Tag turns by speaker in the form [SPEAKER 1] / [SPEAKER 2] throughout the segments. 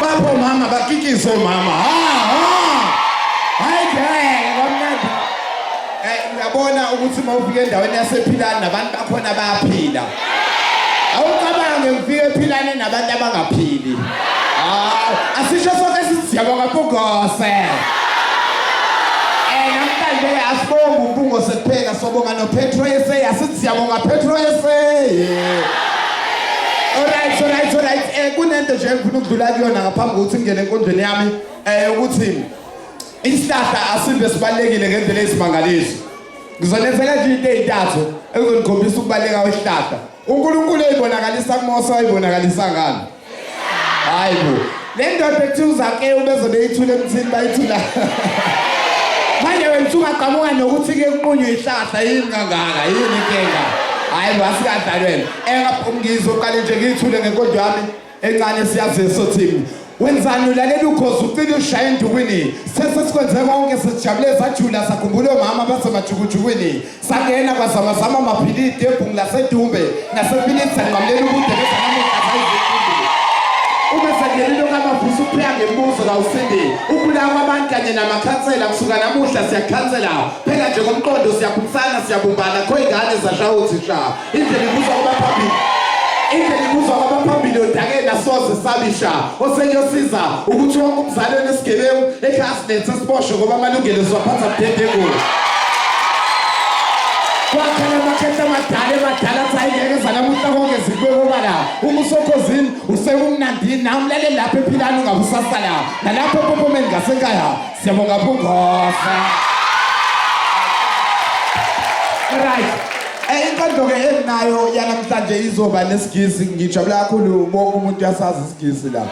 [SPEAKER 1] Bapho mama bakikise mama. Ha ha. Hayi ngeke kwamnandi. Eh uyabona ukuthi uma ufika endaweni yasephilani nabantu bakhona bayaphila. awucabange ngifike philane nabantu abangaphili hayi asisho sonke siziyabo kampungose eh namhlanje asibonga umpungose kuphela sobonga nopetro ese asiziyabonga petro ese Alright, alright, alright. Eh kunento nje engifuna ukudlula kuyona ngaphambi kokuthi ngene enkondweni yami eh ukuthi isihlahla asimbe sibalekile ngendlela ezimangalisi. Ngizonethela nje into ezintathu ezizonikhombisa ukubaleka kwesihlahla. UNkulunkulu ezibonakalisa kuMose wayibonakalisa ngani? Hayi bo. Le ndoda ethi uZake ubeze beyithule emthini bayithula. Manje wena ungaqhamuka nokuthi ke kunqunywe ihlahla yini kangaka yini inkinga? Hayi wasikahlale wena. Engaphi umngizo uqale nje ngithule ngenkonzo yami Encane siyazi so team. Wenzani ulalela ukhozi ucina ushaya endukwini. Sese sikwenze konke sijabule sajula sakhumbula omama basemajukujukwini. Sangena kwazama zama maphilidi ebhungu lasedumbe nasempilini sanqamlela ubude bezanamuhla zayizikhumbula. Ube sengenile okamavusa ukupheka ngemibuzo kawusindi. Ukulawa kwabantu kanye namakhansela kusuka namuhla siyakhansela. Phela nje komqondo siyaphumsana siyabumbana kho ingane zashaya uthisha. Indlela ibuza kwabaphambili. Indlela ibuza kwabaphambili odakeni asoze sabisha. Oseyosiza ukuthi wonke umzali onesigebengu ekhasi lethe siboshwe ngoba amalungelo siwaphatha budedengu. Kwakhela amakhehla amadala emadala athi ayingeke zanamuhla konke zikubekobala. Uma usokhozini usekumnandini nawe umlale lapho ephilani ungabusasala. Nalapho epompomeni ngasekhaya Siyabonga Phungosa. Right. Eh inkondlo ke enginayo yanamhlanje izoba nesigisi ngijabula kakhulu bonke umuntu uyasazi isigisi la.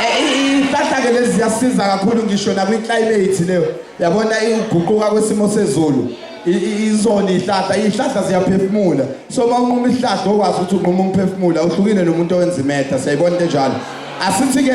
[SPEAKER 1] Eh ihlahla ke lezi ziyasiza kakhulu ngisho nakwi climate leyo. Yabona iguquka kwesimo sezulu. izona ihlahla ihlahla ziyaphefumula so uma unquma ihlahla okwazi ukuthi unquma umphefumula uhlukile nomuntu owenza imetha siyayibona into enjalo asithi-ke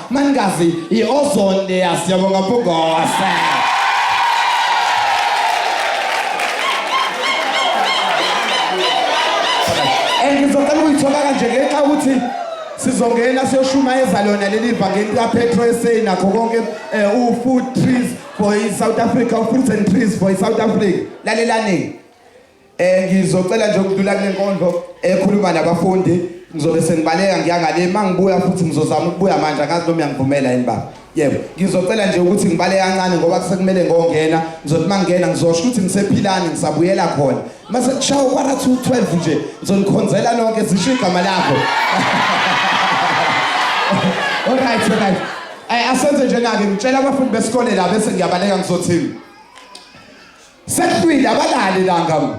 [SPEAKER 1] Manikazi iOzone leya siyabonga Mpungose. Ngizocela ukuyithola kanje ngenxa ukuthi sizongena siyoshumayeza lona leli vangeli kaPetro eSay nakho konke eh, uFood Trees for iSouth Africa, uFruits and Trees for iSouth Africa. Lalelani. Eh ngizocela nje ukudlula kule nkondlo ekhuluma nabafundi ngizobe sengibaleka ngiyangale mangibuya futhi ngizozama ukubuya manje angazi noma uyangivumela yini baba yebo ngizocela nje ukuthi ngibale kancane ngoba kusekumele ngongena ngizothi mangena ngizosho ukuthi ngisephilani ngisabuyela khona mase kushawa ukwara 212 nje ngizonikhonzela lonke zisho igama lakho alright alright asenze nje nake ngitshela abafundi besikole la bese ngiyabaleka ngizothini Sekuhlwile abalalelanga mu.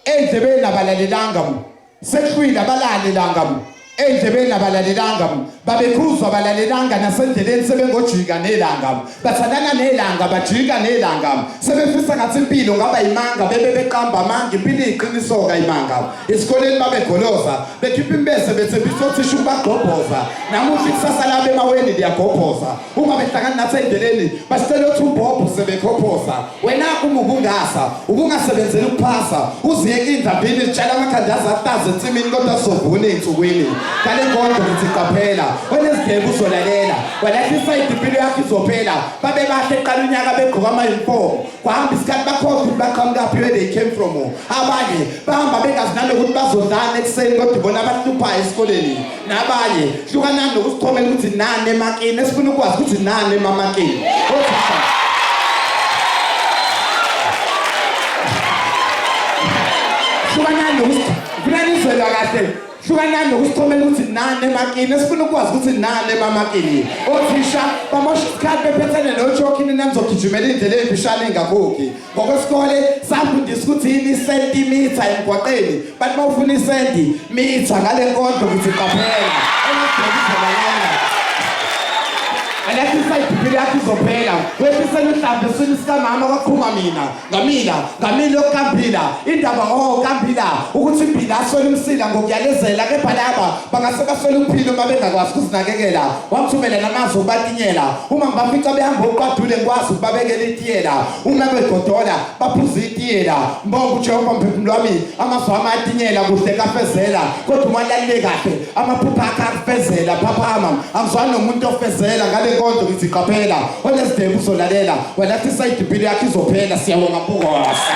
[SPEAKER 1] Endlebeni abalalelanga mu. Sekuhlwile abalalelanga mu. Endlebeni abalalelanga mu. Babekhuzwa abalalelanga nasendleleni sebengojika nelanga mu. Bathandana nelanga bajika nelanga mu. Sebefisa ngathi impilo ngaba imanga bebe beqamba amanga impilo iqiniso ka imanga. Isikoleni babegoloza bekhipha imbese bethembisa othisha ukubagqobhoza. Namuhla ikusasa labe maweni liyagobhoza. uma behlangana nathi endleleni basitshela ukuthi umbobho sebekhophosa wena uma ubungasa ubungasebenzeli ukuphasa uziyeke indabini zitshela amakhanda azahlaza ensimini kodwa sizovuna ey'nsukwini kale nkonzo ngithi qaphela onezigebu uzolalela walahlisa idipilo yakho izophela babe bahle qala unyaka begqoka amayunifomu kwahamba isikhathi bakhokha ukuthi baqhamukaphi where they came from abanye bahamba bengazi nalokuthi bazodlana ekuseni kodwa ibona abahluphayo esikoleni nabanye hlukanani nokusithomela ukuthi nani emakini esifuna ukwazi ukuthi nani emamakini hlukanani ngifuna nizwela kahle hlukanani nokusithomela ukuthi nani emakini esifuna ukwazi ukuthi nani emamakini othisha bamosha isikhathi bephethene nojokhini nanizogijimela iy'ndlela ey'mfishane engakhokhi ngokwesikole safundisa ukuthi yini isentimitha emgwaqeni bathi uma ufuna isenti mitha ngale nkondlo ukuthi qaphela engadokizelanyana alathi isayibhibhile yakho izophela wefisela uhlambe eswini sikamama kwaphuma mina ngamila ngamila yokukampila indaba o oh, kampila ukuthi impila aswele umsila ngokuyalezela kepha laba bangase baswele ukuphila uma bengakwazi ukuzinakekela wamthumela namazwi okubatinyela uma ngibafica behamba okuqadule ngikwazi ukubabekela itiyela uma begodola baphuza itiyela mbonga ujehova mphefumulo wami amazwi ami atinyela kuhle kafezela kodwa uma lalile kahle amaphupha akhe akufezela phaphama angizwani nomuntu ofezela ngale nkonzo ngiziqaphela onezidebu uzolalela walathi isayidibhile yakhe izophela siyabonga bukosa